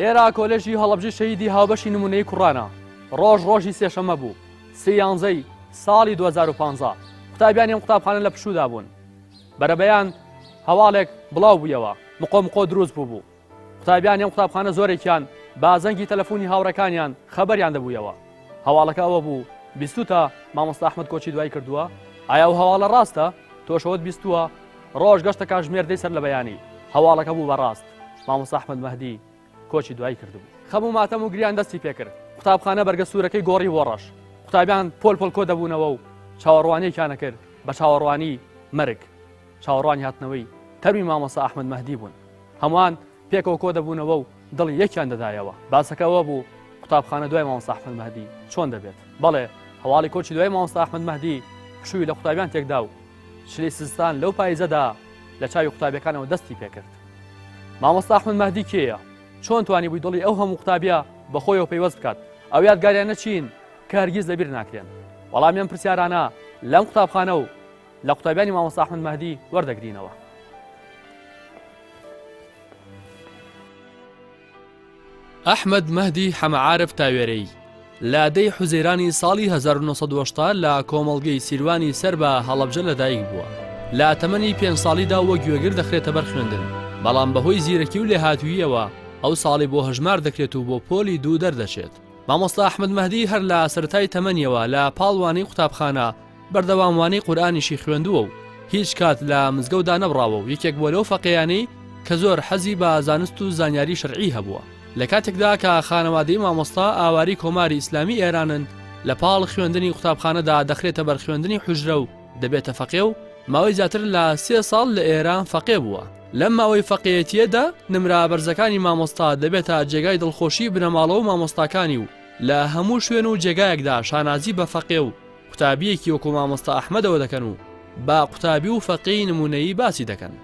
ئێرە کۆلێژی هەڵەبجە شەهیدی هاوبەشی نموونەیی کوڕانە، ڕۆژ ڕۆژی سێشەممە بوو، سێ یانزە ی ساڵی دوو هەزار و پازدە، قوتابیانی ئەم قوتابخانە لە پشوودا بوون، بەرەبەیان هەواڵێک بڵاو بوویەوە، مقۆ مقۆ دروست بووبوو، قوتابیانی ئەم قوتابخانە زۆرێکیان بە زەنگی تەلەفوونی هاوڕێکانیان خەبەریان دەبوویەوە، هەواڵەکە ئەوە بوو، بیستووتە مامۆستا ئەحمەد کۆچی دوایی کردووە؟ ئایا ئەو هەواڵە ڕاستە؟ تۆش ئەوەت بیستووە؟ ڕۆژ گەشتە کاژمێر دەی سەرلەبەیانی هەواڵەکە بوو بە ڕاست. مامۆستا ئەحمەد مەهدی کۆچی دوایی کردبوو. خەم و ماتەم و گریان دەستی پێکرد. قوتابخانە بەرگە سوورەکەی گۆڕی بۆ ڕەش. قوتابیان پۆل پۆل کۆ دەبوونەوە و چاوەڕوانییەکیان ئەکرد بە چاوەڕوانی مەرگ. چاوەڕوانی هاتنەوەی تەرمی مامۆستا ئەحمەد مەهدی بوون. هەمووان پێکەوە کۆ دەبوونەوە و دڵی یەکیان دەدایەوە. باسەکە ئەوە بوو قوتابخانە دوای مامۆستا ئەحمەد مەهدی چۆن دەبێت؟ بەڵێ، هەواڵی کۆچی دوایی مامۆستا ئەحمەد مەهدی پشووی لە قوتابیان تێک دا و چلی سیستان لەو پایزەدا لە چاوی قوتابیەکانەوە دەستی پێکرد مامۆستا ئەحمد مەهدی کێیە چۆن توانی بووی دڵی ئەو هەموو قوتابیە بەخۆیەوە پەیوەست بکات ئەو یادگاریانە چین کە هەرگیز لەبیر ناکرێن وەڵامیان پرسیارانە لەم قوتابخانە و لە قوتابیانی مامۆستا ئەحمد مەهدی وەردەگرینەوە ئەحمەد مەهدی حەمەعارف تاوێرەی، لە دەی حوزەیرانی ساڵی هەزار و نۆ سەد و هەشتا لە کۆمەڵگەی سیروانی سەر بە هەڵەبجە لەدایک بووە. لە تەمەنی پێنج ساڵیدا وەک گوێگر دەخرێتە بەر خوێندن، بەڵام بەهۆی زیرەکی و لێهاتووییەوە ئەو ساڵی بۆ هەژمار دەکرێت و بۆ پۆلی دوو دەردەچێت. مامۆستا ئەحمەد مەهدی هەر لە سەرەتای تەمەنیەوە لە پاڵ وانەی قوتابخانە بەردەوام وانەی قورئانیشی خوێندووە و هیچ کات لە مزگەوت دانەبڕاوە و یەکێک بووە لەو فەقێیانەی کە زۆر حەزی بە زانست و زانیاری شەرعی هەبووە لە کاتێکدا کە خانەوادەی مامۆستا ئاواری کۆماری ئیسلامی ئێرانن لە پاڵ خوێندنی قوتابخانەدا دەخرێتە بەر خوێندنی حوجرە و دەبێتە فەقێ و ماوەی زیاتر لە سێ ساڵ لە ئێران فەقێ بووە. لەم ماوەی فەقێیەتییەدا نمرە بەرزەکانی مامۆستا دەبێتە جێگای دڵخۆشی بنەماڵە و مامۆستاکانی و لە هەموو شوێن و جێگایەکدا شانازی بە فەقێ و قوتابیەکی وەکو مامۆستا ئەحمەدەوە دەکەن و بە قوتابی و فەقێی نمونەیی باسی دەکەن.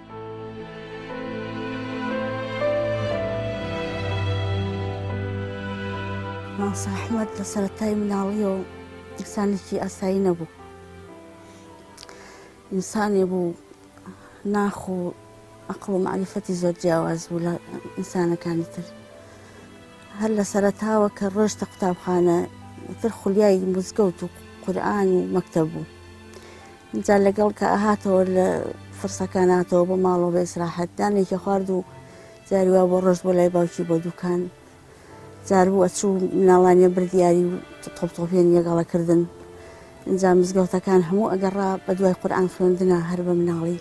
مامۆستا ئەحمەد لە سەرەتای مناڵیەوە ئینسانێکی ئاسایی نەبوو. ئینسانێ بوو ناخ و ئەقڵ و مەعریفەتی زۆر جیاواز بوو لە ئینسانەکانی تر. هەر لە سەرەتاوە کە ڕۆیشتە قوتابخانە تر خولیای مزگەوت و قورئان و مەکتەب بوو. اینجا لەگەڵ کە ئەهاتەوە لە فرسەکان هاتەوە بۆ ماڵەوە بە ئیسراحەت دانێکی خوارد و جاری وا بۆ ڕۆشت بۆ لای باوکی بۆ دوکان. جار بوو ئەچوو مناڵانیان بردیاری و تۆپ تۆپیان یەگەڵە کردن ئینجا مزگەوتەکان هەموو ئەگەڕا بە دوای قورئان خوێندنا هەر بە مناڵی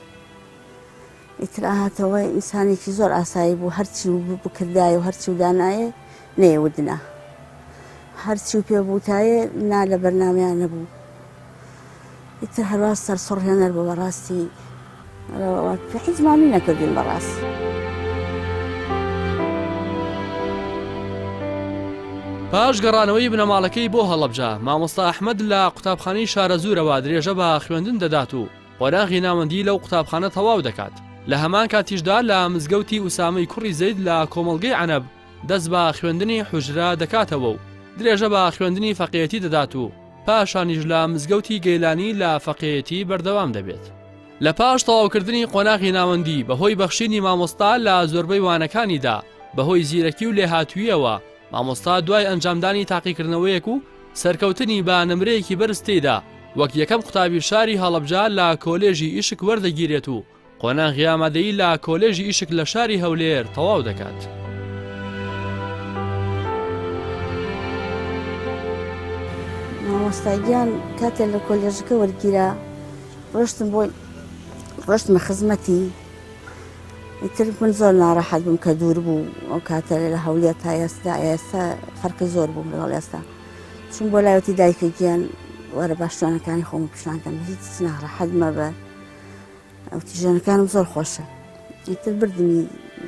ئیتر ئاهاتەوە ئینسانێکی زۆر ئاسایی بوو هەرچی و بکردایە و هەرچی و دانایە نەیەوتنا هەرچی و پێ بووتایە نا لە بەرنامەیان نەبوو ئیتر هەروا سەرسوڕهێنەر بوو بەڕاستی حیز مامی نەکردین بەڕاستی. پاش گەڕانەوەی بنەماڵەکەی بۆ هەڵەبجە مامۆستا ئەحمەد لە قوتابخانەی شارەزوورەوە درێژە بە خوێندن دەدات و قۆناغی ناوەندی لەو قوتابخانە تەواو دەکات لە هەمان کاتیشدا لە مزگەوتی ئوسامەی کوڕی زەید لە کۆمەڵگەی عەنەب دەست بە خوێندنی حوجرە دەکاتەوە و درێژە بە خوێندنی فەقێیەتی دەدات و پاشانیش لە مزگەوتی گەیلانی لە فەقێیەتی بەردەوام دەبێت. لە پاش تەواوکردنی قۆناغی ناوەندی بە هۆی بەخشینی مامۆستا لە زۆربەی وانەکانیدا بە هۆی زیرەکی و لێهاتووییەوە مامۆستا دوای ئەنجامدانی تاقیکردنەوەیەک و سەرکەوتنی بە نمرەیەکی بەرز تێیدا وەک یەکەم قوتابی شاری هەڵەبجە لە کۆلێژی ئیشک وەردەگیرێت و قۆناغی ئامادەیی لە کۆلێژی ئیشک لە شاری هەولێر تەواو دەکات. مامۆستاگیان کاتێ لە کۆلێژەکە وەرگیرا ڕۆشتم بۆی ڕۆشتمە خزمەتی تر من زۆر ناڕەحەت بووم کە دوور بوو ئەو کاتە لە هەولێ تا ئێستا ئێستا فەرقی زۆر بووم لەگەڵ ئێستا چون بۆ لایەتی دایکە گیان وەرە باشتوانەکانی خۆم پیشانکەم هیچ ناڕەحەت مەبە ئەوتی ژەنەکانم زۆر خۆشە ئیتر بردنی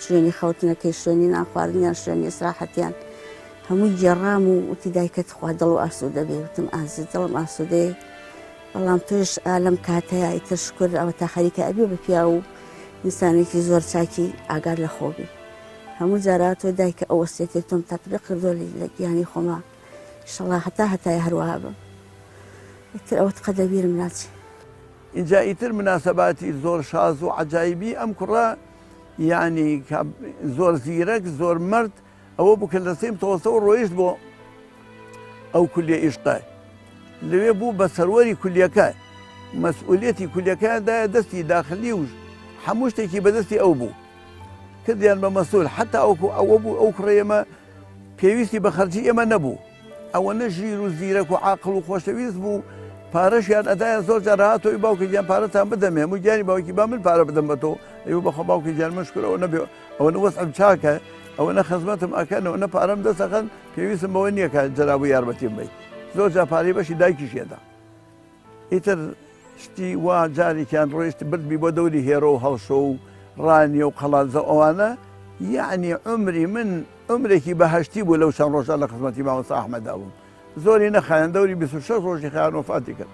شوێنی خەوتنەکەی شوێنی ناخواردنیان شوێنی سراحەتیان هەمووی گێڕام و وتی دایکەت خوا دڵ و ئاسوودە بێ وتم ئازی دڵم ئاسوودەیە بەڵام تۆش ئالم کاتەیە ئیتر شکر ئەوە تا خەریکە ئەبێ بە پیا و ئینسانێکی زۆر چاکی ئاگار لە خۆبی هەموو جاراتۆ دایکە ئەو وەسێتی تۆم تەپرە کردۆ لە گیانی خۆما شڵا هەتا هەتای هەروەها بم ئیتر ئەوت قەدەبیرم ناچێت ئینجا ئیتر مناسەباتی زۆر شاز و عەجایبی ئەم کوڕە یانی کە زۆر زیرەک زۆر مەرد ئەوە بوو کە لە سیم تەوەسەوە ڕۆیشت بۆ ئەو کولیە ئیشقە لەوێ بوو بە سەروەری کولیەکە مەسئولەتی کولیەکەدایە دەستی داخلی و هەموو شتێکی بەدەستی ئەو بوو کردیان بە مەسول حتا ئەوکو ئەوە بوو ئەو کوڕێمە پێویستی بە خەرجی ئێمە نەبوو ئەوەنە ژیر و زیرەک و عاقڵ و خۆشەویست بوو پارەشیان ئەدایە زۆر جار هات ئەوی باوکە گیان پارەتان بدەمێ هەموو گیانی باوکی با من پارە بدەم بە تۆ ئەو بەخۆ باوکە گیان من شکرەوە نەبێ ئەوەنە وەسم چاکە ئەوەنە خزمەتم ئەکەن ئەوەنە پارەم دەسەخەن پێویستم بەوە نییە کە جەرابوو یارمەتیم بی زۆر جا پارەی بەشی دایکیشێدا ئیتر شتی وا جاریکیان ڕۆیشت بردمی بۆ دەوری هێرۆ و هەڵشۆ و ڕانیە و قەڵادزە و ئەوانە یەعنی عومری من عومرێکی بەهەشتی بوو لەو چەند ڕۆژە لە خزمەتی مامۆستا ئەحمەدا بووم زۆری نەخایەن دەوری 26 ڕۆژی خیان وەفاتی کرد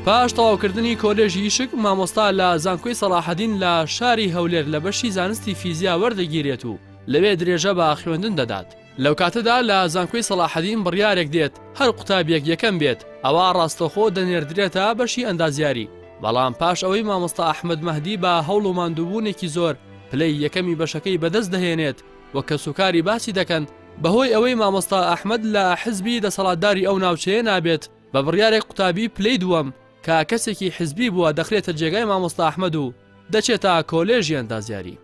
پاش تەواوکردنی کۆلێژی یشک، مامۆستا لە زانکۆی سەڵاحەدین لە شاری هەولێر لە بەشی زانستی فیزیا وەردەگیرێت و لەوێ درێژە بە خوێندن دەدات. لەوکاتەدا لە زانکۆی سەڵاحەدین بڕیارێک دێت هەر قوتابیەک یەکەم بێت ئەوا ڕاستەوخۆ دەنێردرێتە بەشی ئەندازیاری، بەڵام پاش ئەوەی مامۆستا ئەحمەد مەهدی بە هەوڵ و ماندووبوونێکی زۆر پلەی یەکەمی بەشەکەی بەدەست دەهێنێت و کەسوکاری باسی دەکەن بەهۆی ئەوەی مامۆستا ئەحمەد لە حزبی دەسەڵاتداری ئەو ناوچەیە نابێت بە بڕیارێک قوتابی پلەی دووەم کە کەسێکی حزبی بووە دەخرێتە جێگای مامۆستا ئەحمەد و دەچێتە کۆلێژی ئەندازیاری.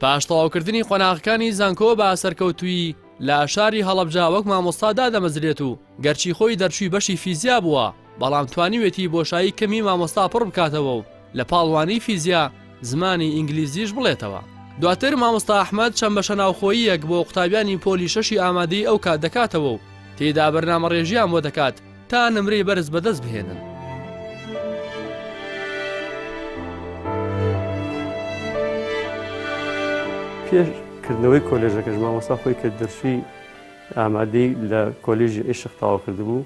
پاش تەواوکردنی قۆناغەکانی زانکۆ بە سەرکەوتوویی لە شاری هەڵەبجە وەک مامۆستا دادەمەزرێت و گەرچی خۆی دەرچووی بەشی فیزیا بووە بەڵام توانیوێتی بۆشایی کەمی مامۆستا پڕ بکاتەوە و لە پاڵوانی فیزیا زمانی ئینگلیزیش بڵێتەوە. دواتر مامۆستا ئەحمەد چەند بەشە ناوخۆییەک بۆ قوتابیانی پۆلی شەشی ئامادەی ئەو کات دەکاتەوە و تێیدا بەرنامەڕێژییان بۆ دەکات تا نمرەی بەرز بەدەست بهێنن. پێش کردنەوەی کۆلێژەکەش مامۆستا خۆی کە دەرچووی ئامادەی لە کۆلێژی عیشق تەواو کردبوو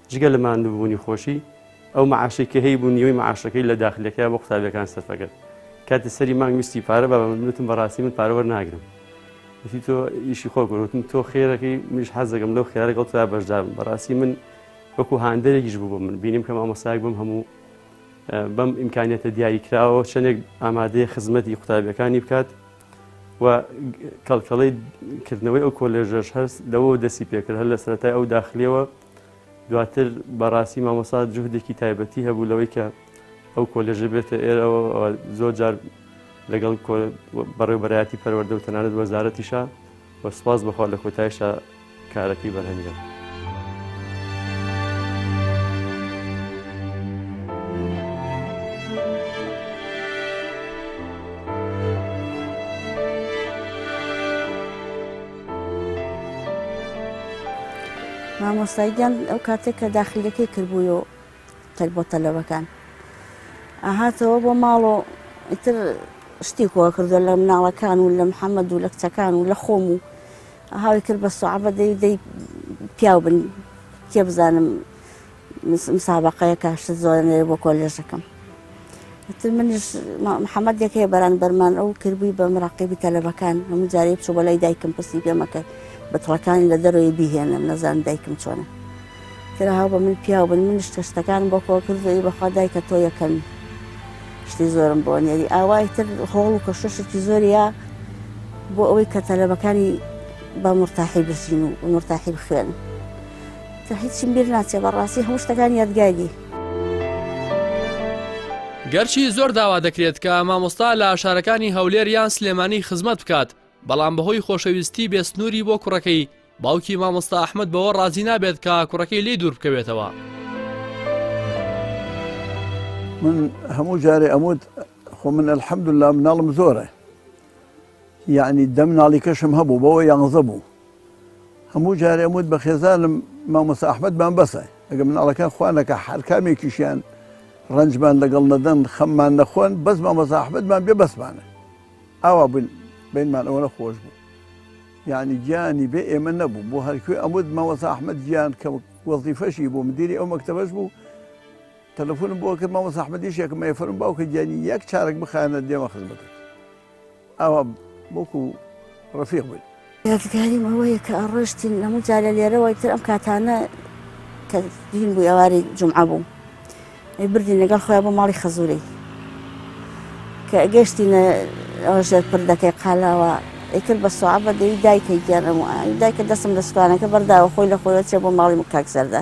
جگە لە ماندووبوونی خۆشی، ئەو مەعاشەی کە هەیبوو نیوەی مەعاشەکەی لە داخلیەکەیا بۆ قوتابیەکان سەرف ئەکرد. کاتی سەری مانگ ویستی پارە بابە من وتم بەڕاستی من پارە وەرناگرم. وتی تۆ ئیشی خۆت بکە. وتم تۆ خێرەکەی منیش حەز دەکەم لەو خێرە لەگەڵ تۆیا بەشدار بم. بەڕاستی من وەکوو هاندەرێکیش بوو بۆ من. بینیم کە مامۆستایەک بەم هەموو بەم ئیمکانیەتە دیاری کراوەوە چەندێک ئامادەیە خزمەتی قوتابیەکانی بکات و کەڵکەڵەی کردنەوەی ئەو کۆلێژەش هەست لەوە دەستی پێکرد هەر لە سەرەتای ئەو داخلیەوە دواتر بەڕاستی مامۆسا جوهدێکی تایبەتی هەبوو لەوەی کە ئەو کۆلێژە بێتە ئێرەوە زۆر جار لەگەڵ بەڕێوبەرایەتی پەروەردە و تەنانەت وەزارەتیشە وە سپاس بەخوا لە کۆتایشە کارەکەی بەرهەنگێت. مامۆستای گیان ئەو کاتێک کە داخلیەکەی کردبووی و تەک بۆ تەلەبەکان ئاهاتەوە بۆ ماڵ و ئیتر شتی کۆ کردو لە مناڵەکان و لە محەممەد و لە کچەکان و لە خۆم و هاوی کرد بە سوعبە دەی دەی پیاو بن کێ بزانم مسابەقەیە کە شت زۆرە نەوێ بۆ کۆلێژەکەم وتم منیش محەممەدێک هەیە بەرانبەرمان ئەو کردبووی بە مراقیبی تەلەبەکان هەموو جارێ بچوو بە لای دایکم پرسی پێمەکە بە تڵەکانی لە دەرەوەی بیهێنم نەزان دایکم چۆنە تراها بە من پیاو بن منیش کە شتەکان بۆ کۆ کردوی بەخوا دایکە تۆ یەکەمی شتی زۆرم بۆ نێری ئاوای تر هۆڵ و کەشەشێکی زۆرە بۆ ئەوەی کە تەلەبەکانی بە مرتاحی بژین و مرتاحی بخوێن کە هیچیم بیر ناچێ بەڕاستی هەموو شتەکان یادگاری. گەرچی زۆر داوا دەکرێت کە مامۆستا لە شارەکانی هەولێر یان سلێمانی خزمەت بکات بەڵام بەهۆی خۆشەویستی بێ سنووری بۆ کوڕەکەی باوکی مامۆستا ئەحمد بەوە ڕازی نابێت کە کوڕەکەی لی دوور بکەوێتەوە. من هەموو جارێ ئەموت خۆ من الحمدلله مناڵم زۆرە یەعنی دە مناڵیکەشم هەبوو بەوە یانزە بوو هەموو جارێ ئەموت بە خێزانم مامۆسا ئەحمەدمان بەسە ئەگە مناڵەکان خوا نەکا هەر کامێکیشیان ڕەنجمان لەگەڵ نەدەن خەممان نەخۆن بەس مامۆسا ئەحمەدمان بێ بەسمانە ئاوا بن بینمان ئەوە نەخۆش بوو یعنی گیانی بێ ئێمە نەبوو بۆ هەرکوێ ئەمود مامۆسا ئەحمەد گیان کە وەزیفەشی بوو مدیری ئەو مەکتەبەش بوو تەلەفونم بۆ کرد مامۆستا ئەحمەدی شێکم ئەی فەرموو باوکە گیانی یەک چارەک بخایەنە دێمە خزمەتت ئاوا وەکو ڕەفیق بووین یادگاریم ئەوەیە کە ئەڕۆشتین لەمە جا لە لێرەوەی تر ئەم کاتانە کە دین بوو ئەواری جمعە بوو ئەی بردین لەگەڵ خۆیان بۆ ماڵی خەزوورەی کە گەشتینە ئەوە ژێر پردەکەی قالاوە ئەیکرد بە سوعە بە دەوی دایکە گیانەمە دایکە دەستم لە سوکانەکە بەرداوە خۆی لە خۆیەوە چێ بۆ ماڵی کاک زەردە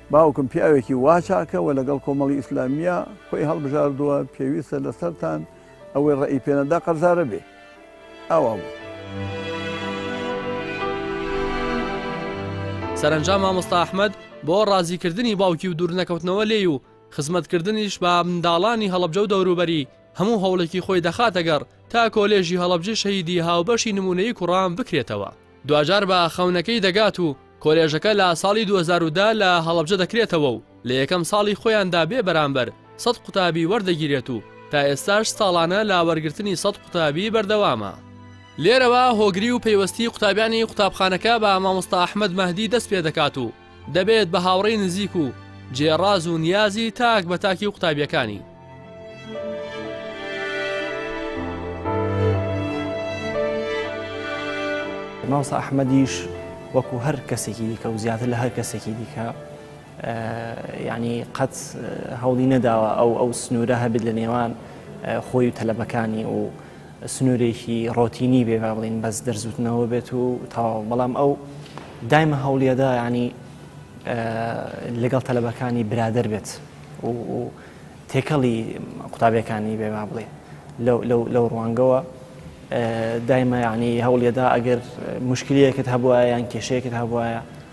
باوکم پیاوێکی وا چاکە و لەگەڵ کۆمەڵی ئیسلامییە خۆی هەڵبژاردووە، پێویستە لەسەرتان ئەوەی ڕێی پێ نەدا قەرزارە بێ. ئاوا بوو. سەرەنجام مامۆستا ئەحمەد بۆ ڕازیکردنی باوکی و دوورنەکەوتنەوە لێی و خزمەتکردنیش بە منداڵانی هەڵەبجە و دەوروبەری هەموو هەوڵێکی خۆی دەخاتەگەڕ تا کۆلێژی هەڵەبجەی شەهیدی هاوبەشی نموونەیی کوڕان بکرێتەوە. دواجار بە خەونەکەی دەگات و کۆلێژەکە لە ساڵی دوو هەزار و دە لە هەڵەبجە دەکرێتەوە و لە یەکەم ساڵی خۆیاندا بێ بەرامبەر سەد قوتابی وەردەگیرێت و تا ئێستاش ساڵانە لە وەرگرتنی سەد قوتابی بەردەوامە. لێرەوە هۆگری و پەیوەستی قوتابیانی قوتابخانەکە بە مامۆستا ئەحمەد مەهدی دەست پێدەکات و، دەبێت بە هاوڕێی نزیک و جێ ڕاز و نیازی تاک بە تاکی و قوتابیەکانی. مامۆستا ئەحمەدیش وەکو هەر کەسێکی دیکە و زیاتر لە هەر کەسێکی دیکە ینی قەت هەوڵی نەداوە ئەو ئەو سنوورە هەبێت لە نێوان خۆی و تەلەبەکانی و سنوورێکی ڕۆتینی بێ با بڵێین بەس دەرزوتنەوە بێت و تەواو بەڵام ئەو دایمە هەوڵیەدا ینی لەگەڵ تەلەبەکانی برادر بێت و تێکەڵی قوتابیەکانی بێ با بڵێ لەو ڕوانگەوە دایمە ینی هەوڵیەدا ئەگەر مشکلەکەت هەبواە یان کێشەیەکت هەبواە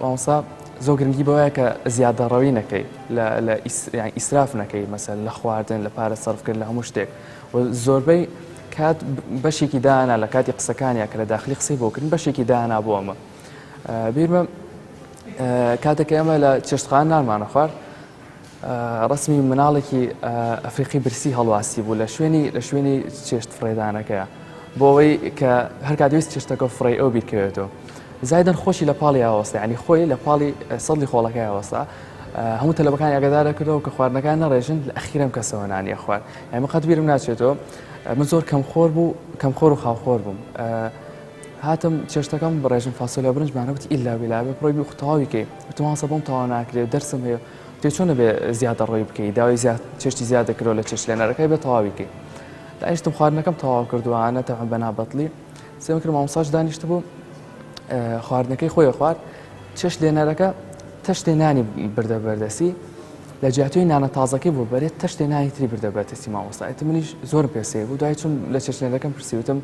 مامۆستا زۆر گرنگی بەوەیە کە زیادەڕەوی نەکەی لە ئیسراف نەکەی مەسەر لە خواردن لە پارە سەرفکرد لە هەموو شتێک زۆربەی کات بەشێکی دانا لە کاتی قسەکانیان کە لە داخلی قسەی بۆکردن بەشێکی دانا بۆ ئەمە بیرمە کاتێک ئێمە لە چێشتخان نانمانە خوارد ڕەسمی مناڵێکی ئەفریقی برسی هەڵواسی بوو لە شوێنی لە شوێنی چێشت فڕێدانەکەیە بۆ ئەوەی کە هەرکاتویست چێشتەکە فڕی ئەو بیرکەوێتەوە زایدن خۆشی لە پاڵی ئاوەستا ینی خۆی لە پاڵی سەدی خۆڵەکە ئاوەستا هەموو تەلەبەکانی ئەگەدارە کردەوە کە خواردنەکان نەڕێژن لە ئەخیرم کەسەوە نانیە خوارد ئەمە قەت بیرم ناچێتەوە من زۆر کەم خۆر بوو کەم خۆر و خاوخۆر بووم هاتم چێشتەکەم بڕێژم فاسۆلیا برنج مانە وتی ئیلا بیلا بێ پڕۆی بی تەواوی کەی وتم هەسە بۆم تەوا ناکرێت دەرسم هەیە تێ چۆن نەبێ زیادە ڕۆی بکەی داوای زیاد چێشتی زیاد دەکرەوە لە چێشت لێنەرەکەی بێ تەواوی کەی دانیشتم خواردنەکەم تەواو کردووە نەتەوەم بە نابەتڵی سێم کرد مامۆساش دانیشت بوو خواردنەکەی خۆی خوارد چێشت لێنەرەکە تەشتێ نانی بردە بەردەسی لە جیاتوی نانە تازەکەی بۆ بەرێت تەشتێ نانی تری بردە بەتەسی مامۆستایەتی منیش زۆر پێسێ بوو دوای چون لە چێشتێنەکەم پرسیوتم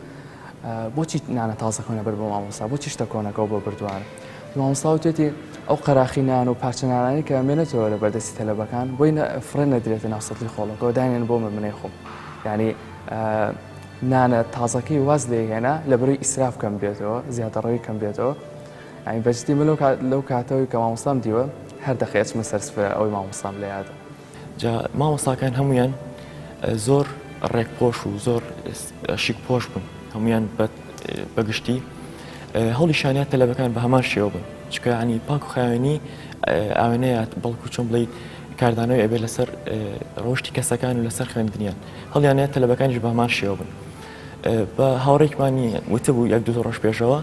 بۆچی نانە تازەکەونە بەر بۆ مامۆستا بۆچی شتە کۆنەکەەوە بۆ بردووارە مامۆستا وتێتی ئەو قەراخی نان و پارچە نانانی کە مێنێتەوە لە بەردەستی تەلەبەکان بۆی فڕێ نەدرێتە ناو سەدلی خۆڵەکەەوە دانێن بۆ من منەی خۆم ینی نانە تازەکەی واز لێ هێنا لە بەروی ئیسراف کەم بێتەوە زیادەڕەوی کەم بێتەوە ئەین بەجدی من لەو کاتەوەی کە مامۆستام دیوە هەر دەخێچمە سەرسفرە ئەوەی مامۆستام لە یادە جا مامۆستاکان هەموویان زۆر ڕێک پۆش و زۆر شیک پۆش بوون هەمویان بەگشتی هەڵی شانیان تەلەبەکان بە هەمان شێوە بن چکانی پاک و خاوێنی ئاوێنەیات بەڵکو چۆن بڵیت کاردانەوەی ئەبێ لەسەر ڕۆشتی کەسەکان و لەسەر خوێندنیان هەڵیانە تەلەبەکانیش بە هەمان شێوە بن بە هاوڕێکمانی وتبوو یەک دو ڕۆژ پێشەوە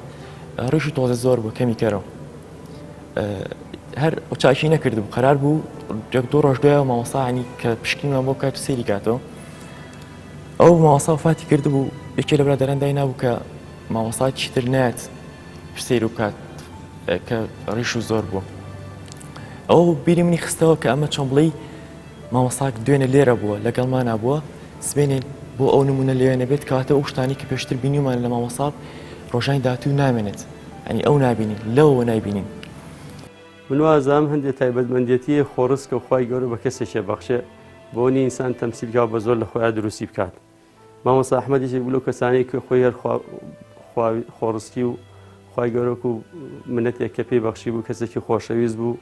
ڕیش و تۆزە زۆر بوو کەمی کەرەوە هەر چاکی نەکرد و قەرار بوو یەک دوو ڕۆژ دوای مامۆستاانی کە پشکینمان بۆ کات سری کاتەوە ئەو ماوەسا فاتی کرد بوو یەکێ لە برادران دای نابوو کە مامۆسا چیتر نات سیر و کات کە ڕیش و زۆر بوو ئەو بیری منی خستەوە کە ئەمە چۆن بڵێ مامۆستا دوێنێ لێرە بووە لەگەڵمانا بووە سبێنێ بۆ ئەو نمونە لەوێ نەبێت کەواتە ئەو شتانی کە پێشتر بینیمان لە مامۆسا ڕۆژانی داهاتوو نامێنێت ئەنی ئەو نابینین لەوەوە نایبینین من وازام هەندێک تایبەتمەندێتی خۆڕسکە و خوای گەورە بە کەسێکێ بەخشێ بۆنی ئینسان تەمسیلکا و بە زۆر لە خۆیان دروستی بکات. مامۆستا ئەحمەد یەکێک بوو لەو کەسانەی کە خۆی هەر خوا- خوا- خۆڕسکی و خوای گەورە وەکو منەتێک کە پێی بەخشی بوو کەسێکی خۆشەویست بوو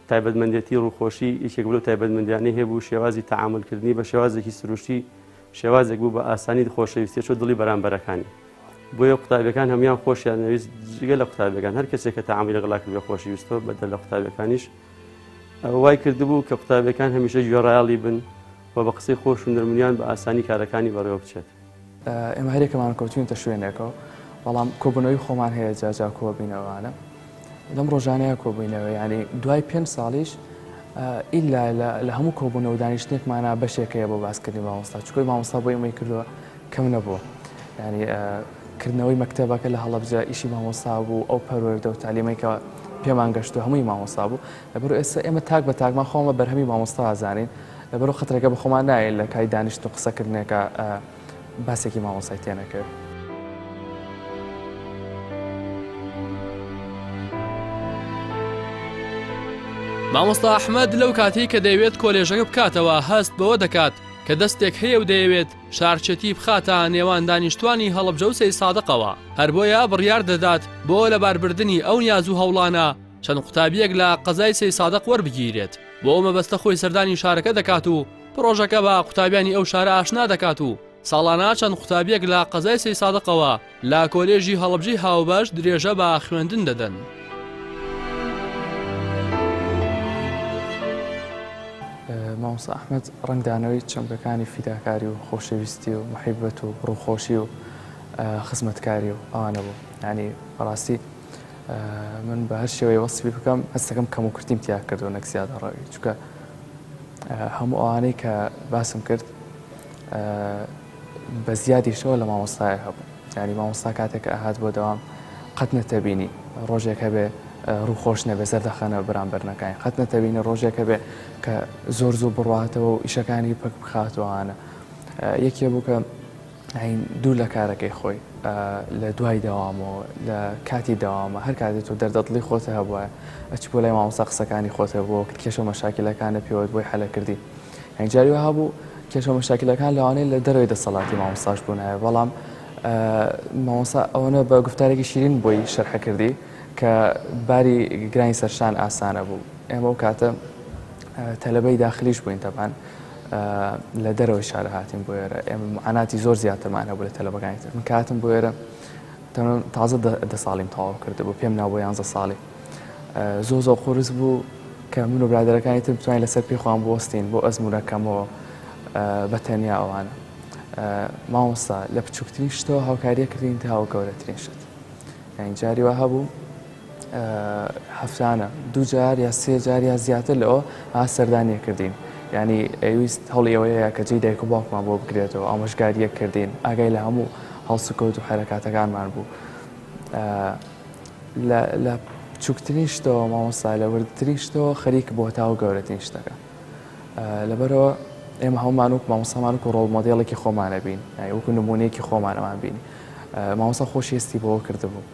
تایبەتمەندێتی ڕووخۆشی یەکێک بوو لەو تایبەتمەندیانەی هەبوو شێوازی تەعامول کردنی بە شێوازێکی سروشتی شێوازێک بوو بە ئاسانی خۆشەویستی ئەچوو دڵی بەرامبەرەکانی بۆیە قوتابیەکان هەموان خۆشیان ئەویست جگە لە قوتابیەکان هەر کەسێک کە تەعامولی لەگەڵا کرد بە خۆشی ویستەوە بەدەر لە قوتابیەکانیش وای کردبوو کە قوتابیەکان هەمیشە گوێڕایەڵی بن و بە قسەی خۆش و نەرمنیان بە ئاسانی کارەکانی بەڕێوە بچێت. ئێمە هەریەکەمان کەوتوینەتە شوێنێکەوە بەڵام کۆبنەوەی خۆمان هەیە جاجا کۆبینەوانە لەم ڕۆژانەیە کۆبووینەوە ینی دوای پێ ساڵیش ئیلا لە هەموو کۆبوونە و دانیشتێکمانە بەشێکەیە بۆ باسکردنی مامۆستا چکۆی مامۆستا بۆ ئەمەی کردووە کەم نەبووە ینی کردنەوەی مەکتتەبەکە لە هەڵبجە ئیشی مامۆستا بوو ئەو پەروەەردە و تعلیمێکە پێمان گەشتو هەمووی مامۆستا بوو لەبەر ئێستا ئێمە تاک بە تاکمان خۆمە بەرهەمی مامۆستا زانین لەبەرو قەترەکە بەخۆمان نایەین لە کای دانیشتن و قسە کردنێکا باسێکی مامۆسای تێنەکەوێ. مامۆستا ئەحمەد لەو کاتەی کە دەیەوێت کۆلێژەکە بکاتەوە هەست بەوە دەکات کە دەستێک هەیە و دەیەوێت شارچێتی بخاتە نێوان دانیشتوانی هەڵەبجە و سەیسادقەوە هەر بۆیە بڕیار دەدات بۆ لەباربردنی ئەو نیاز و هەوڵانە چەند قوتابیەک لە قەزای سەیسادق وەربگیرێت بۆ ئەو مەبەستە خۆی سەردانی شارەکە دەکات و پڕۆژەکە بە قوتابیانی ئەو شارە ئاشنا دەکات و ساڵانە چەند قوتابیەک لە قەزای سەیسادقەوە لە کۆلێژی هەڵبجەی هاوبەش درێژە بە خوێندن دەدەن. مامۆسا ئەحمد ڕنگدانەوەی چەمکەکانی فیداکاری و خۆشەویستی و محیبەت و ڕووخۆشی و خزمەتکاری و ئەوانە بوو ینی بەڕاستی من بە هەر شێوەیە وەسفی بکەم هەستەکەم کەم و کورتیم تیا کردو نەک زیادە ڕەوی چکە هەموو ئەوانەی کە باسم کرد بە زیادیشەوە لە مامۆستای هەبوو ینی مامۆستا کاتێک ئەهات بۆ دەوام قەت نەتەبینی ڕۆژێک هەبێ ڕووخۆش نەبێ زەردەخەنە بەرامبەرنەکانی قەت نەتەبینە ڕۆژێک هەبێ کە زۆر زوو بڕاتەوە و ئیشەکانی پک بخاتوانە یەکێ بوو کە هەین دوور لە کارەکەی خۆی لە دوای دەوامەوە لە کاتی دەوامە هەر کاتێ تۆ دەردەدڵی خۆتە هەبواە ئەچ بۆ لای مامۆسا قسەکانی خۆتە بۆ وەکت کێشە مەشاکلەکانە پێوەت بۆی حەلەکردی هەنجاری وەها بوو کێشە مەشاکلەکان لەوانەیە لە دەرەوەی دەسەڵاتی مامۆستاش بوونایە بەڵام مامۆسا ئەوەنە بە گفتارێکی شیرین بۆی شەرحەکردی کە باری گرانی سەرشان ئاسانە بوو ئێمە و کاتە تەلبەی داخلیش بووین تەبان لە دەرەوەی شارە هاتین بۆ ئێرە ئێمە معاناتی زۆر زیاترمان هەبوو لە تەلەبەکانی تر من کاتم بۆ ئێرە تازە دە ساڵیم تەواو کرد بۆ پێم ناو بۆ یانزە ساڵی زۆ زۆ قرس بوو کە من و برادەرەکانی تر بتوانین لەسەر پێخوان بۆستین بۆ ئەزمونونەکەمەوە بە تەنیا ئەوانە مامۆستا لە بچووکترین شتەوە هاوکاریە کردین تاوە گەورەترین شت یعنی جاری وە هەبوو هەفتانە دوو جار یا سێ جار یا زیاتر لەوە ها سەردانیە کردین یعنی ئەویست هەڵی ئەوەیە کە جێی دایک و باوکمان بۆ بکرێتەوە ئامۆژگاریەک کردین ئاگای لە هەموو هەڵسوکەوت و حەرەکاتەکانمان بوو لە بچووکترین شتەوە مامۆستا لە وردترین شتەوە خەریک بۆ تا و گەورەترین شتەکە لەبەرەوە ئێمە هەمومان وک مامۆسامان و ڕۆڵ مۆدیڵێکی خۆمانە بین وەکو نمونەیەکی خۆمانەوان بین مامۆسا خۆشیستی بۆ کردبوو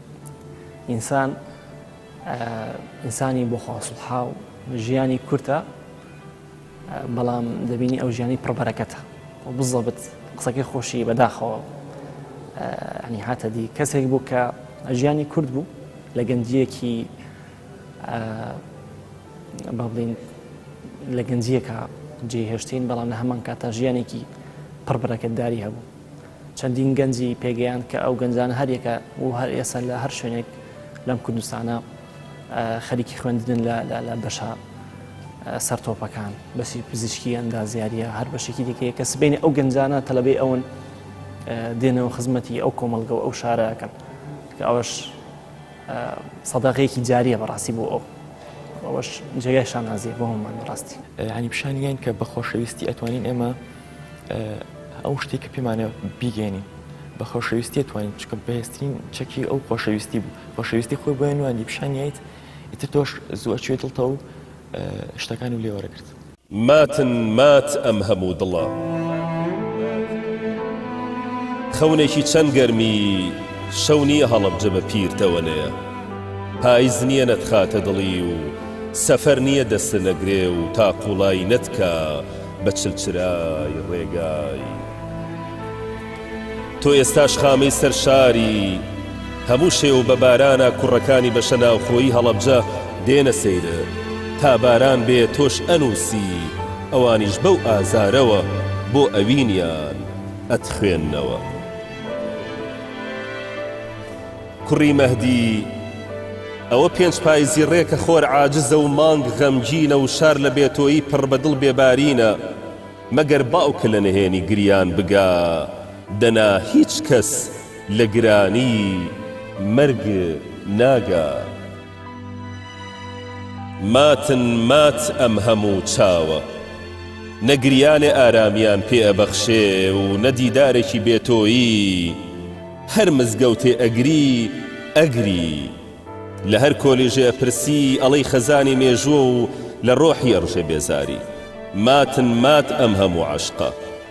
ئینسان ئینسانی بۆ خواصلحا و ژیانی کورتە بەڵام دەبینی ئەو ژیانی پڕبەرەکەتە و بزەبت قسەکەی خۆشی بەداخەوە ئەنی هاتە دی کەسێک بوو کە ژیانی کورد بوو لە گەنجیەکی با بڵین لە گەنجیەکە جێهێشتین بەڵام لە هەمان کاتە ژیانێکی پڕبەرەکەتداری هەبوو چەندین گەنجی پێگەیاند کە ئەو گەنجانە هەر یەکە و هەر ئێستا لە هەر شوێنێک لەم کوردستانە خەریکی خوێندنن لە بەشە سەر تۆپەکان بەشی پزیشکی ئەندازیاریە هەر بەشێکی دیکەیە کە سبینی ئەو گەنجانە تەلبەی ئەون دێنەوە خزمەتی ئەو کۆمەلگە و ئەو شارەکەن کە ئەوش سەداغەیەکی جاریە بەڕاستی بۆ ئەو ئەوش جێگای شانازیە بۆ هەمومان بەڕاستی هەنی پیشانیان کە بە خۆشەویستی ئەتوانین ئێمە ئەو شتێک کە پێمانە بیگەێنین بە خۆشەویستیە توانین چکە بەهێسترین چەکی ئەو خۆشەویستی بوو خۆشەویستی خۆی بۆیان نواندی پیشانیت ئیتر تۆش زووە چێ دڵتە و شتەکان و لێوەرەگرت ماتن مات ئەم هەموو دڵە خەونێکی چەند گەرمی شەو نییە هەڵەبجە بە پیر تەوەنەیە پایز نییە نەتخاتە دڵی و سەفەر نییە دەستە نەگرێ و تا قوڵایی نەتکە بە چل چرای ڕێگای تۆ ئێستاش خامەی سەر شاری هەموو شێ و بە بارانە کوڕەکانی بەشە ناوخۆیی هەڵەبجە دێنە سەیرت تا باران بێ تۆش ئەنووسی ئەوانیش بەو ئازارەوە بۆ ئەوینیان ئەتخوێننەوە. کوڕی مەهدی، ئەوە پێنج پایزی ڕێکە خۆر عاجزە و مانگ غەمگینە و شار لە بێتۆیی پڕ بە دڵ بێبارینە، مەگەر باوکە لە نهێنی گریان بگا، دەنا هیچ کەس لە گرانیی مەرگ ناگا. ماتن مات ئەم هەموو چاوە نەگریانێ ئارامیان پێ ئەبەخشێ و نە دیدارێکی بێ تۆیی هەر مزگەوتێ ئەگری ئەگری لە هەر کۆلیژێ ئەپرسی ئەڵێی خەزانی مێژووە و لە ڕۆحی ئەڕژێ بێزاری ماتن مات ئەم هەموو عەشقە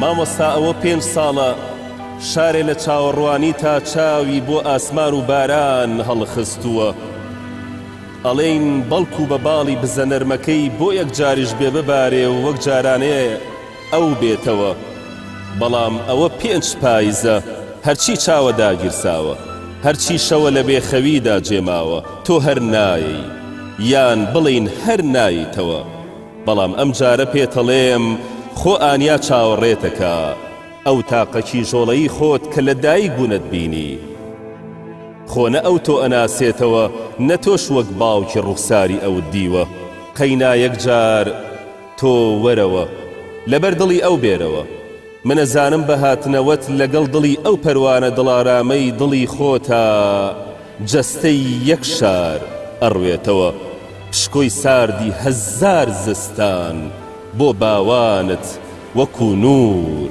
مامۆستا ئەوە پێنج ساڵە شارێ لە چاوەڕوانیتە چاوی بۆ ئاسمان و باران هەڵخستووە ئەڵێین بەڵکو بە باڵی بزە نەرمەکەی بۆ یەکجاریش بێ ببارێ و وەک جارانێ ئەو بێتەوە بەڵام ئەوە پێنچ پایزە هەرچی چاوە داگیرساوە هەرچی شەوە لە بێ خەویدا جێماوە تۆ هەر نایەی یان بڵێین هەر نایتەوە بەڵام ئەم جارە پێتەڵێم خۆ ئانیا چاوەڕێتەکا ئەو تاقە کیژۆڵەی خۆت کە لە دایک بونت بینی خۆ نە ئەو تۆ ئەناسێتەوە نە تۆش وەک باوکی ڕوخساری ئەوت دیوە قەینا یەک جار تۆ وەرەوە لەبەر دڵی ئەو بێرەوە. من ئەزانم بە هاتنەوەت لەگەڵ دڵی ئەو پەروانە دڵارامەی دڵی خۆتا جەستەی یەک شار ئەڕوێتەوە پشکۆی ساردی هەزار زستان بۆ باوانت وەکو نور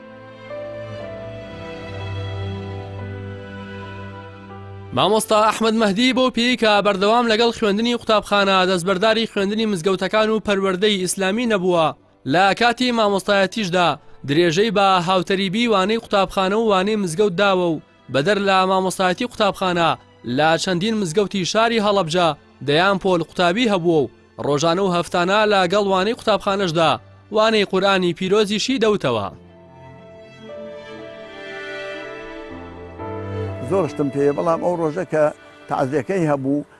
مامۆستا ئەحمەد مەهدی بەو پێی کە بەردەوام لەگەڵ خوێندنی قوتابخانە دەستبەرداری خوێندنی مزگەوتەکان و پەروەردەی ئیسلامی نەبووە لە کاتی مامۆستایەتیشدا درێژەی بە هاوتەریبی وانەی قوتابخانە و وانەی مزگەوت داوە و بەدەر لە مامۆستایەتی قوتابخانە لە چەندین مزگەوتی شاری هەڵەبجە دەیان پۆل قوتابی هەبووە و ڕۆژانە و هەفتانە لە گەڵ وانەی قوتابخانەشدا وانەی قورئانی پیرۆزیشی دەوتەوە. زۆر شتم پێیە بەڵام ئەو ڕۆژە کە تەعزیەکەی هەبوو،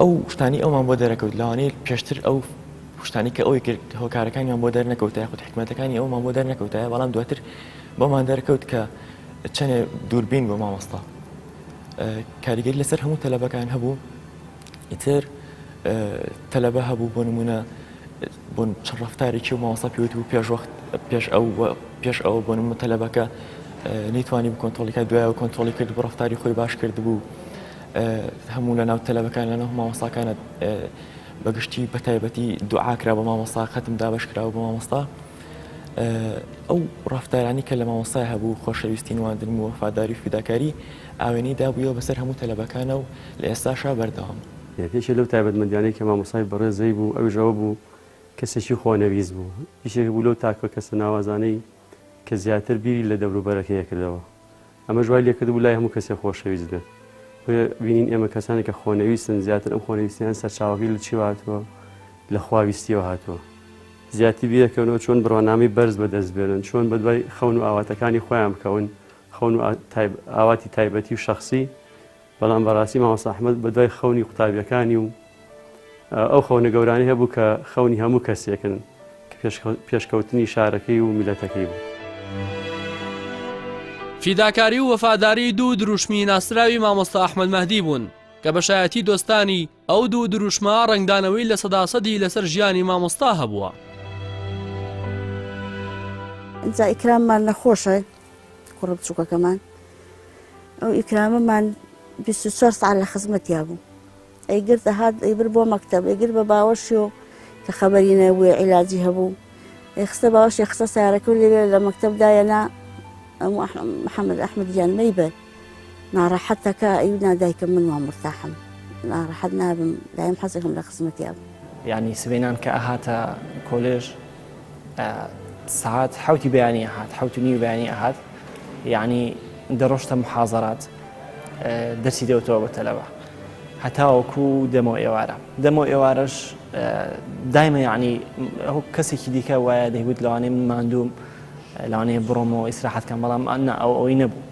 ئەو شتانی ئەومان بۆ دەرەکەوت لەوانەیە پێشتر ئەو شتانی کە ئەوی کرد هۆکارەکانیان بۆ دەرنەکەوتە یاخود حکومەتەکانی ئەومان بۆ دەرنەکەوتایە بەڵام دواتر بۆمان دەرکەوت کە چەنێ دووربین بۆ مامۆستا کاریگەری لەسەر هەموو تەلەبەکان هەبوو ئیتر تەلەبە هەبوو بۆ نمونە بۆ چ ڕەفتارێکی و مامۆستا پێوت بوو پێش وەخت پێش ئەو پێش ئەوە بۆ نمە تەلەبەکە نەیتوانی بکۆنتۆلیکە دوایەوە کۆنتۆلی کرد بۆ ڕفتاری خۆی باش کرد بوو هەموو لە ناو تەلەبەکان لە نەو مامۆستاکانە بەگشتی بە تایبەتی دوعاکرا بە مامۆستا خەتم دابش کراوە بە مامۆستا ئەو ڕفتارانی کە لە مامۆستای هەبوو خۆشەویستی نواندن و وەفاداری فیداکاری ئاوێنەی دابووە بەسەر هەموو تەلەبەکانە و لە ئێستاشا بەردەوام. یەکێکێ لەو تایبەتمەندیانەی کە مامۆستای بەڕێزەی بوو ئەویش ئەوە بوو کەسێکی خۆنەویست بوو، یشێک بوو لەو تاکە کەسە ناوازانەی کە زیاتر بیری لە دەوروبەرەکەی ئەکردەوە، ئەمەش وای لێکردبوو لای هەموو کەسێ خۆشەویست بێت، بۆیە بینین ئێمە کەسانێک کە خۆنەویستن زیاتر ئەم خۆنەویستیان سەرچاوەکەی لە چیوە هاتووە؟ لە خواویستیەوە هاتووە. زیاتر بیرەکەنەوە چۆن بڕوانامەی بەرز بەدەست بێنن، چۆن بەدوای خەون و ئاواتەکانی خۆیان بکەون، خەون و ئاواتی تایبەتی و شەخسی، بەڵام بەڕاستی مامۆستا ئەحمەد بەدوای خەونی قوتابیەکانی و ئەو خەونە گەورانەی هەبوو کە خەونی هەموو کەسێکن کە پێشکەوتنی شارەکەی و میلەتەکەی بوو. فیداکاری و وەفاداری دوو دروشمی ناسراوی مامۆستا ئەحمەد مەهدی بوون کە بە شایەتی دۆستانی، ئەو دوو دروشمە ڕەنگدانەوەی لە سەدا سەدی لەسەر ژیانی مامۆستا هەبووە. ئینجا ئیکراممان نەخۆشە کوڕە بچووکەکەمان ئەو ئیکرامەمان بیست و چوار سەعات لە خزمەتیا بوو ئەیگرت دەهات ئەیبرد بۆ مەکتەب ئەیگرت بە باوەشی و کە خەبەری نەبووە عیلاجی هەبوو ئێخستە باوەشی خستە سارەکە و لەوێ لە مەکتەب دایەنا محەممەد ئەحمد گیان مەیبەر ناڕەحەتە کە ئەیوت نا دایکم من وام مورتاحم ناڕەحەت نابم دایم حەزەکەم لە خزمەتی ئەبم. یانی سبەینان کە ئەهاتە کۆلێژ سەعات حەوتی بەیانی ئەهات حەوت و نیو بەیانی ئەهات یانی دەڕۆشتە محازەرات دەرسی دەوتەوە بە تەلەبە هەتاوەکو دەمۆ ئێوارە دەمۆ ئێوارەش دایمە یعنی ئەو کەسێکی دیکە وایە دەیوت لەوانێ من ماندوم لەوانەیە بڕۆمەوە ئیسراحەتکەم بەڵام ئەنا ئەو ئەوەی نەبوو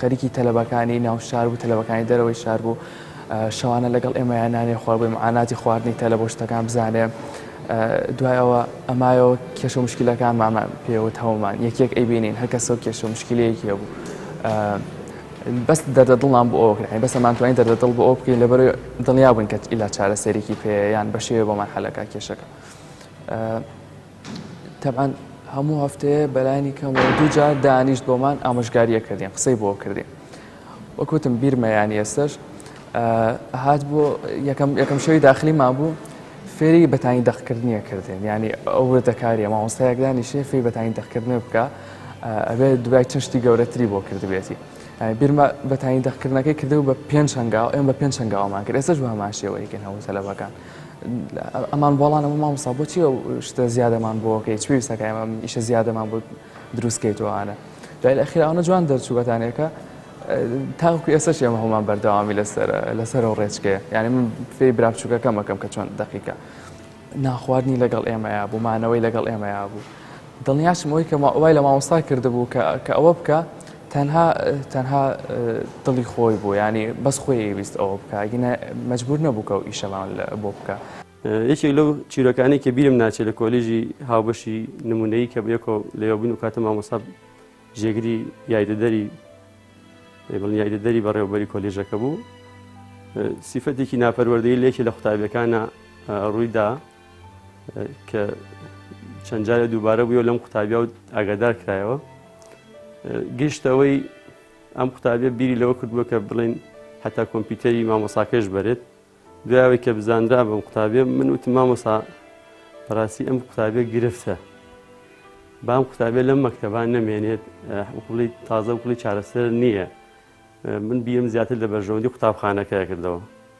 خەریکی تەلەبەکانی ناو شار بوو تەلەبەکانی دەرەوەی شار بوو شەوانە لەگەڵ ئێمەیان نانێ خۆر بووی معاناتی خواردنی تەلە بۆ شتەکان بزانێ دوای ئەوە ئەمایەوە کێشە مشکلەکانمانمان پێوت هەومان یەکێک ئەیبینین هەکەسە و کێشە مشکلەیەکی هەبوو بەس دەردە دڵان بۆ ئەوکرین بەس ئەمانتوانی دەردە دڵ بۆ ئەو بکەین لەبەر دڵنیا بووین کە ئیلا چارەسەرێکی پێیان بەشێوێ بۆمان حەلەکە کێشەکە تەبعەن هەموو هەفتەیە بەلانی کەم دووجار دانیشت بۆمان ئامۆژگاریە کردین قسەی بۆ کردین وەکوتم بیرمە ینی ئێستش هات بۆ یەکەم یەکەم شەوی داخلیمان بوو فێری بەتانی دەخکردنیە کردێن ینی ئەو دەکاریە مامۆستایەکدانی شێفی بەتانی دەخکردنە بکە ئەبێ دوای چەند شتی گەورەتری بۆ کردبێتی بیرمە بەتانی دەخکردنەکەی کردو بە پێنج هەنگاو ئێم بە پێنج هەنگاومان کرد ئێستش بە هەمان شێوەیەکن هەموو تەلەبەکان ئەمان بۆڵانە بۆ مامۆستا بۆچی ئەو شتە زیادەمان بۆکەی چ پێویستەکە ئەمە ئیشە زیادەمان بۆ دروستکەیتەوەانە دوای ئەخیر ئەوە جوان دەرچووەتانەکە تاوکو ئێستا ئێمە هەمان بەردەوامی لەسەر لەسەر و ڕێچکێ یعنی من فێ براپچووکەکەمەکەم کە چۆن دقیقە ناخواردنی لەگەڵ ئێمەیە بوو مانەوەی لەگەڵ ئێمەیە بوو دڵنیاشمەوەی کە وای لە مامۆستا کردبوو کە ئەوە بکە تەنها تەنها دڵی خۆی بوو یانی بەس خۆی ئەیویست ئەوە بکە ئەگینە مەجبور نەبوو کە و ئیشەمان بۆ بکە. یەکێک لەو چیرۆکانەی کە بیرم ناچێت لە کۆلیژی هاوبەشی نمونەیی کە بەیەکۆ لەوە بووین و کاتە مامۆسا جێگری یایدەدەری بڵین یایدەدەری بەڕێوبەری کۆلیژەکە بوو سیفەتێکی ناپەروەردەی لەکی لە قوتابیەکانە ڕوویدا کە چەند جارە دووبارە بووە لەم قوتابیا و ئاگادار کرایەوە گشتەوەی ئەم قوتابیە بیری لەوە کردووە کە بڵێن حتا کۆمپیوتەری مامۆساکەش بەرێت دوایەوەی کە بزانرا بەم قوتابێ من وتم مامۆسا بەڕاستی ئەم قوتابێ گرفتە بام قوتابێ لەم مەکتتەبان نەمێنێت قوڵی تازە و قوڵی چارەسەر نییە من بیم زیاتر لە بەرژەوەندی قوتابخانەکە کردەوە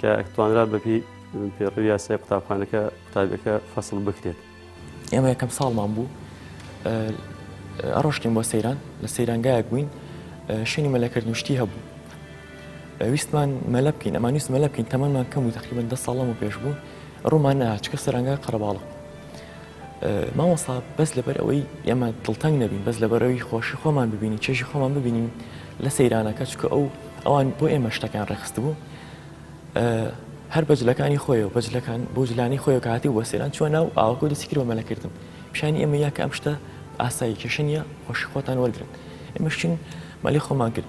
کە توانرا بەپی پێڕوی یاسای قوتابخانەکە قوتابەکە فەسڵ بکرێت ئێمە یەکەم ساڵمان بوو ئەڕۆشتین بۆ سەیران لە سەیرانگایەک بووین شوێنی مەلەکردن شتی هەبوو ویستمان مەلە بکەین ئەمان ویست مەلە بکەین تەمەمان کەم و تقریبن دە ساڵم و پێش بوو ڕوومان ناچکە سەرنگای قەرەباڵق مامۆستا بەس لەبەر ئەوەی ئێمە دڵتەنگ نەبین بەس لەبەرەوەی خۆشی خۆمان ببینین چێژی خۆمان ببینین لە سەیرانەکە چکە ئەو ئەوان بۆ ئێمە شتەکان ڕێخست بوو هەر بەجلەکانی خۆیەوە بەجلەکان بۆ جلانی خۆی کاتی وە سێران چوە ناو ئاوەکە دەستی کرد بە مەلەکردن پیشانی ئێمە یاکە ئەم شتە ئاسایی کێشە نیە خۆشی خۆتان وەرگن ئێمەشین مەلی خۆمان کرد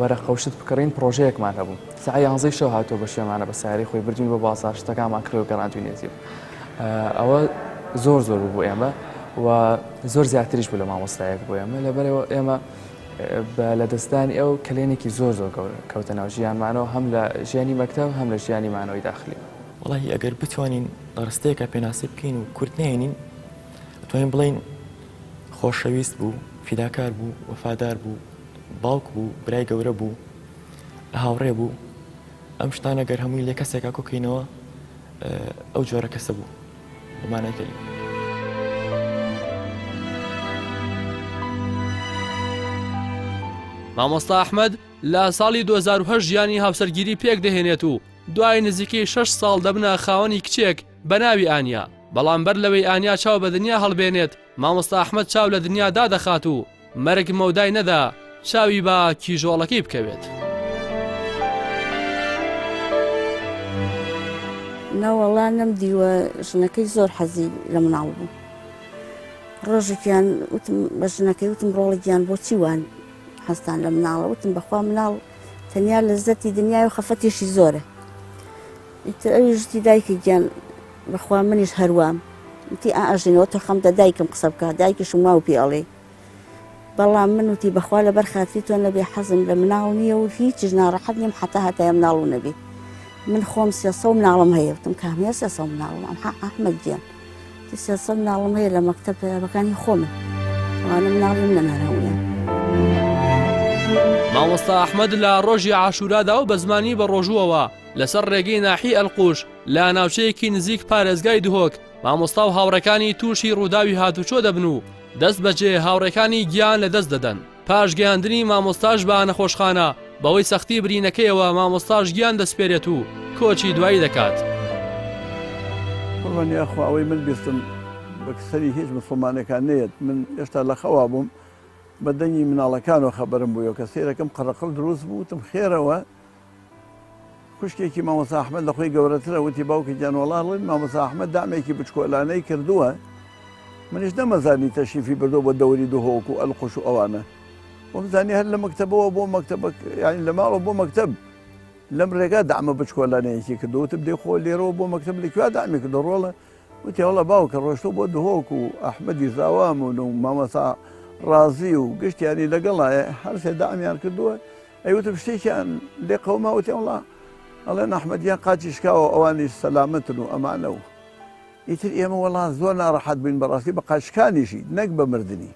وەرە قەوشت بکڕین پڕۆژەیەکمان هەبوو سعی یانزەی شەو هاتۆ بە شوێمانە بە سیارەی خۆی بردوین بۆ بازار شتەکانمان کرێ و گەڕاندوینێتی ئەوە زۆر زۆر بوو ئێمە و زۆر زیاتریش بوو لە مامۆستایەک بۆ ئێمە لەبەرەوە ئێمە بە لەدەستدانی ئەو کلێنێکی زۆر زۆر گەورە کەوتە ناو ژیانمانەوە هەم لە ژیانی مەکتب هەم لە ژیانی مانەوەی داخلی وڵی ئەگەر بتوانین ڕستەیەکە پێناسی بکەین و کورت نێنین توانین بڵین خۆشەویست بوو فیداکار بوو وەفادار بوو باوک بوو برای گەورە بوو هاوڕێ بوو ئەم شتانە گەر هەمووی لە کەسێکا کۆکەینەوە ئەو جۆرە کەسە بوو بەمانەکەی. مامۆستا ئەحمد لە ساڵی 2010 ژیانی هاوسەرگیری پێک دەهێنێت و دوای نزیکەی 6 ساڵ دەبنە خاوەنی کچێک بە ناوی ئانیا بەڵام بەر لەوەی ئانیا چاو بە دنیا هەڵبێنێت مامۆستا ئەحمەد چاو لە دنیا دادەخات و مەرگ مەودای نەدا چاوی بە کیژۆڵەکەی بکەوێت. نەوەڵا نەم دیوە ژنەکەی زۆر حەزی لە مناڵ بوو ڕۆژێکیان وتم بە ژنەکەی وتم ڕۆڵە گیان بۆچی وان هەستان لە مناڵە وتم بەخوا مناڵ تەنیا لە زەتی دنیای و خەفەتێکی زۆرە ئیتر ئەویش وتی دایکی گیان بەخوا منیش هەروام وتی ئا ئەژین ئەوە تەقەم دە دایکم قسە بکە دایکیشم واو پێ ئەڵێ بەڵام من وتی بەخوا لەبەر خاتری تۆ نەبێ حەزم لە مناڵ نییە و هیچیش ناڕەحەت نیم حەتا هەتایە مناڵ و نەبێ من خۆم سێ سەد مناڵم هەیە وتم کام هەیە سێ سەد مناڵم ئەم حە ئەحمەد گیان وتی سێ سەد مناڵم هەیە لە مەکتەب پەیاکانی خۆمن وانە مناڵی منن هەر هەموویان مامۆستا ئەحمەد لە ڕۆژی عاشورادا و بە زمانی بەڕۆژووەوە لەسەر ڕێگەی ناحی ئەلقوش لە ناوچەیەکی نزیک پارێزگای دهۆک مامۆستا و هاوڕێکانی تووشی ڕووداوی هاتوچۆ دەبن و دەست بەجێ هاوڕێکانی گیان لە دەست دەدەن پاش گەیاندنی مامۆستاش بە نەخۆشخانە بەوەی سەختی برینەکەیەوە مامۆستاش گیان دەسپێرێت و کۆچی دوایی دەکات. قوربان یاخوا ئەوەی من بیستم بەک سەری هیچ موسڵمانێکا نەیەت من ئێشتا لە خەوا بووم بە دەنگی مناڵەکانەوە خەبەرم بوویەوە کە سەیرەکەم قەڕەقڕ دروست بوو وتم خێرەوە خوشکێکی مامۆستا ئەحمەد لە خۆی گەورەترە وتی باوکی گیان وەڵا ڵێن مامۆستا ئەحمەد دامێکی بچکۆلانەی کردووە منیش نەمەزانی تەشیفی بردووە بۆ دەوری دهۆک و ئەلقوش و ئەوانە وەم زانی هەر لە مەکتەبەوە بۆ مەکتەبە یانی لە ماڵەوە بۆ مەکتەب لەم ڕێگا دامە بچکۆلانەیەکی کردو وتم دێ خۆ لێرەوە بۆ مەکتەب لە کوێ دامی کردو ڕۆڵە وتی هەڵە باوکە ڕۆشتۆ بۆ دهۆک و ئەحمەدی زاوامون و مامەسا ڕازی و گشتیانی لەگەڵایە هەرسێ دامیان کردووە ئەی وتم شتێکیان لێ قەوما وتیان وەڵا ئەڵێن ئەحمەدیان قاچی شکاوە ئەوانیش سەلامەتن و ئەمانە و ئیتر ئێمە وەڵا زۆر ناڕەحەت بووین بەڕاستی بە قاچ شکانیشی نەک بە مردنی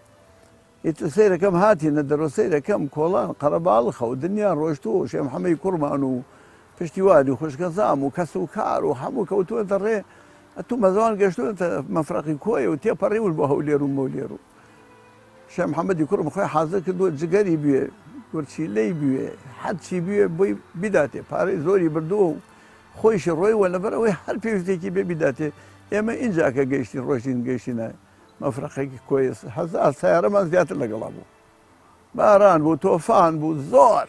ئیتر سەیرەکەم هاتینە دەرۆ سەیرەکەم کۆڵان قەرەباڵخە و دنیا ڕۆشتووە و شێ محەمەی کوڕمان و پشتیوانی و خوشکەزام و کەس و کار و هەموو کەوتووەتە ڕێ ئەتوو مەزەوان گەشتووەتە مەفرەقی کۆیە و تێپەڕیون بۆ هەولێر و مۆلێر و شێخ محەمەدی کوڕم خۆی حازر کردووە جگەری بوێ گورچیلەی بوێ هەر چی بوێ بۆی بیداتێ پارەی زۆری بردووە و خۆیشی ڕۆیوە لەبەر ئەوەی هەر پێویستێکی بێ بیداتێ ئێمە ئینجا کە گەیشتین ڕۆشتین گەیشتینە مەفرەقێکی کۆیە هەزار سەیارەمان زیاتر لەگەڵا بوو باران بوو تۆفان بوو زۆر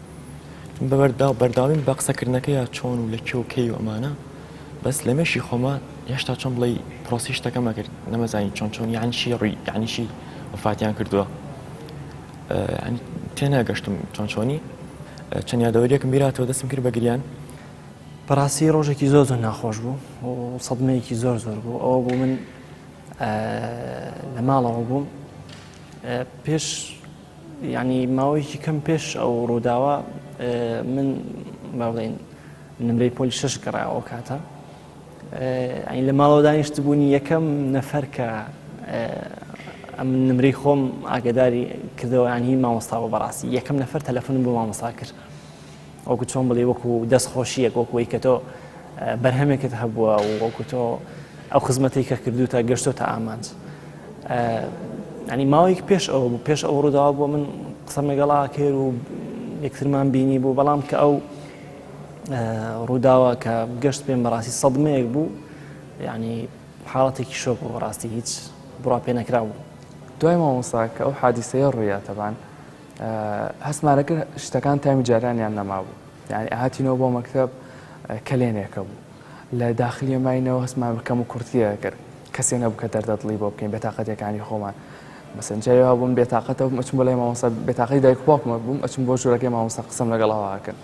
بەبەرداو بەرداویم بە قسەکردنەکە یا چۆن و لە کێ و کەی و ئەمانە بەس لە مێشی خۆمە هێشتا چۆن بڵی پرۆسی شتەکەمە کرد نەمەزانی چۆن چۆن یانشی ڕووی یانیشی وفاتیان کردووە تێناگەشتم چۆن چۆنی چەند یادەوەریەکم بیراتەوە دەستم کرد بە گریان بەڕاستی ڕۆژێکی زۆر زۆر ناخۆش بوو و سەدمەیەکی زۆر زۆر بوو ئەوە بوو من لە ماڵەوە بووم پێش یانی ماوەیەکی کەم پێش ئەو ڕووداوە من باڵێن نمرەی پۆلی شش گەڕا ئەو کاتە ئەین لە ماڵەوە دانیشت بوونی یەکەم نەفەر کە ئەم نمرەی خۆم ئاگداری کردەوەیان هی مامۆستا بە بەڕاستی یەکەم نەفەر تەلەفۆنم بۆ مامۆسا کرد وەکو چۆن بڵێ وەکو دەست خۆشیەک وەکوی کە تۆ بەرهەمێکت هەبووە و وەکو تۆ ئەو خزمەتی کە کردو تا گەشتۆ تا ئامانج ئەنی ماوەیەک پێش ئەو بوو پێش ئەو ڕووداوە بۆ من قسەم لەگەڵا کرد و یەکترمان بینی بوو بەڵام کە ئەو ڕووداوە کە گەشت پێم بەڕاستی سەدمەیەک بوو ینی حاڵەتێکی شۆک و ڕاستی هیچ بڕا پێ نەکرا بوو دوای مامۆسا کە ئەو حادیسەیە ڕوویاتەبان هەستمانەکرد شتەکان تامی جارانیان نەمابوو یعنی ئاهاتینەوە بۆ مەکتب کەلێنێکە بوو لە داخلیە ماینەوە هەستمان بکەم و کورتیە کرد کەسێ نەبوو کە دەردەدڵی بۆ بکەین بێتاقەتەکانی خۆمان مەسن جاوا بووم بێتاقەتە بووم ئەچم بۆ لای مامۆسا بێتاقی دایک باوکمە بووم ئەچم بۆ ژوورەکەی مامۆسا قسم لەگەڵاواکرد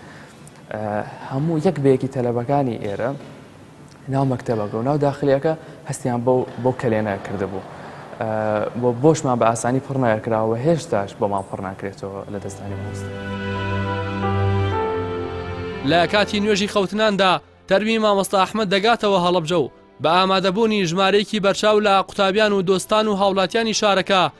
هەموو یەک بەیەکی تەلەبەکانی ئێرە ناو مەکتەبەکە و ناو داخلیەکە هەستیان بەو بەو کەلێنە کردبوو بۆ بۆشمان بە ئاسانی پڕ نایەکراوە هێشتاش بۆمان پڕ ناکرێتەوە لە دەستدانی مامۆستا. لە کاتی نوێژی خەوتناندا تەرمی مامۆستا ئەحمەد دەگاتەوە هەڵەبجە و بە ئامادەبوونی ژمارەیەکی بەرچاو لە قوتابیان و دۆستان و هاوڵاتیانی شارەکە،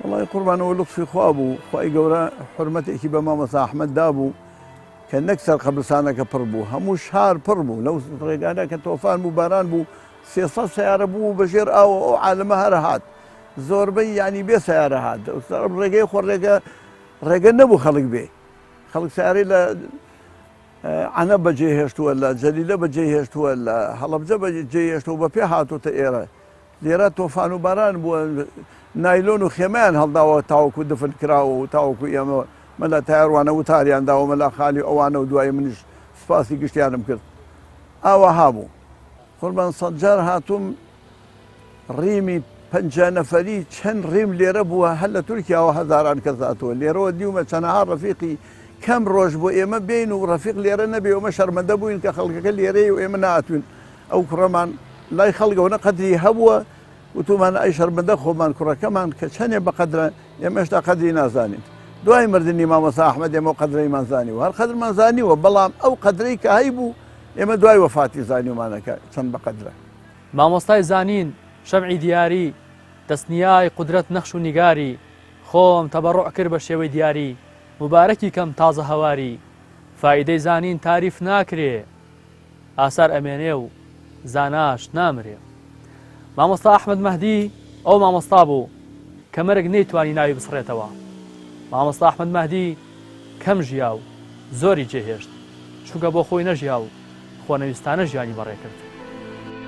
وەڵای قوربان ئەوە لوتفی خوا بوو خوای گەورە حورمەتێکی بە مامۆستا ئەحمەد دابوو کە نەک سەر قەبرستانەکە پڕ بوو هەموو شار پڕ بوو لەو ڕێگانە کە تۆفان بوو باران بوو سێ سەد سەیارە بوو بە ژێر ئاوە ئەو عالەمە هەرە هات زۆربەی یانی بێ سەیارە هات ڕێگەی خۆ ڕێگە ڕێگە نەبوو خەڵک بێ خەڵک سیارەی لە ئەە بەجێ هێشتووە لە جەلیلە بەجێ هێشتووە لە هەڵبجە بەجێ هێشتەوە بە پێ هاتوتە ئێرە لێرە تۆفان و باران بووە نایلۆن و خێمەیان هەڵداوە تاوەکو دفن کراوە و تاوەکو ئێمە مەلا تایەر وانە وتاریان داوە مەلا خالی ئەوانە و دوایی منیش سوپاسی گشتیانم کرد ئاوەها بوو. قوربان سەد جار هاتووم ڕیمی پەنجا نەفەری چەند ڕیم لێرە بووە هەر لە تورکیاوە هەزاران کەس هاتووە لێرەوە دیومە چەنەها ڕەفیقی کەم ڕۆژ بۆ ئێمە بێین و ڕەفیق لێرە نەبێ ئێمە شەرمەندە بووین کە خەڵکەکە لێرەیە و ئێمە نەهاتووین ئەو کوڕەمان لای خەڵکەوە نە قەدری هەبووە، وتومان ئای شەرمەندە خۆمان کوڕەکەمان کە چەنێ بە قەدرە، ئێمە هێشتا قەدری نازانین. دوای مردنی مامۆستا ئەحمەد ئێمە ئەو قەدرەیمان زانیوە. هەر قەدرمان زانیوە، بەڵام ئەو قەدرەی کە هەیبوو ئێمە دوای وەفاتی زانیومانە کە چەند بە قەدرە. مامۆستای زانین، شەمعی دیاری، دەستنیای قودرەت نەخش و نیگاری، خۆم تەبەڕوع کرد بە شێوەی دیاری، موبارەکی کەم تازە هەواری، فائیدەی زانین تاریف ناکرێ. ئاسار ئەمێنێ و زاناش نامرێ. مامۆستا ئەحمەد مەهدی ئەو مامۆستا بوو کە مەرگ نەیتوانی ناوی بسڕێتەوە. مامۆستا ئەحمەد مەهدی کەم ژیا و زۆری جێهێشت، چونکە بۆ خۆی نەژیا و خۆنەویستانە ژیانی بەڕێکرد.